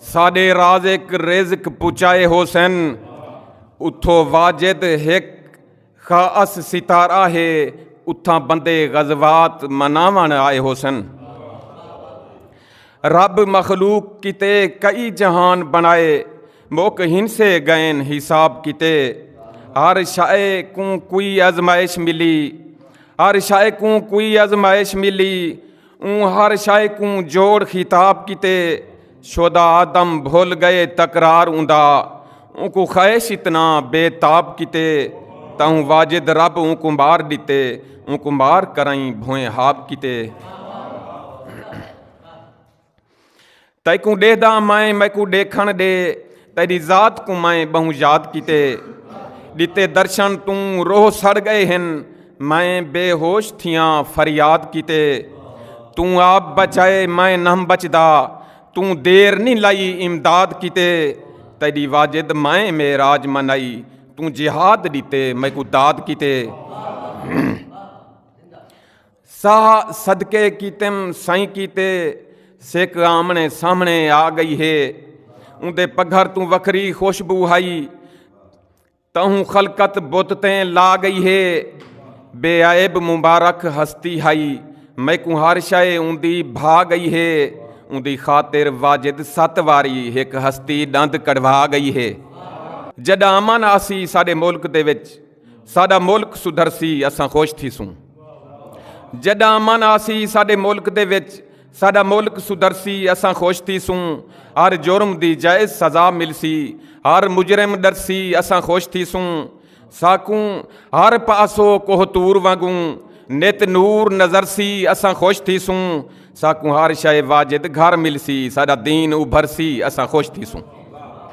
ساڈے رازق رزق پچائے حسین اتھو واجد ہک خاص ستارہ ہے اتھاں بندے غزوات مناون آئے حسین رب مخلوق کیتے کئی جہان بنائے موک ہنسے گئن حساب کیتے ہر شائے کوں کوئی ازمائش ملی ہر شائے کوں کوئی ازمائش ملی اوں ہر شے کوں جوڑ خطاب کیتے شودا آدم بھول گئے تکرار اوندا اوں کو خواہش اتنا بے تاب کیتے تاہوں واجد رب اوں کو مار ڈتے اوں کو مار کرائیں بھوئیں ہاب کیتے تیکوں ڈیہدا مائیں میکوں ڈیکھن ڈے تیری ذات کو مائیں بہوں یاد کیتے ڈتے درشن توں روح سڑ گئے ہن میں بے ہوش تھیاں فریاد کیتے توں آپ بچائے میں نہ بچدا توں دیر نہیں لائی امداد کیتے تیری واجد میں معراج منائی توں جہاد دیتے میں کو داد کیتے ساہ صدقے کیتم سائیں کیتے سیک آمنے سامنے آ گئی ہے اندے پگھر تو وکری خوشبو ہائی تہوں خلقت بت تیں لا گئی ہے بے عیب مبارک ہستی ہائی میں کو ہر شے اندی بھا گئی ہے اندی خاطر واجد ست واری ایک ہستی دند کڑوا گئی ہے جڈا امن آسی ساڈے ملک دے وچ ساڈا ملک سدھرسی اساں خوش تھیسوں جڈا امن آسی ساڈے ملک دے وچ ساڈا ملک سدھرسی اساں خوش تھیسوں ہر جرم دی جائز سزا ملسی ہر مجرم ڈرسی اساں خوش تھیسوں ساکوں ہر پاسو کوہ تور وانگوں نت نور نظر سی اساں خوش تھیسوں ساکوں ہر شے واجد گھر ملسی ساڈا دین ابھرسی اساں خوش تھیسوں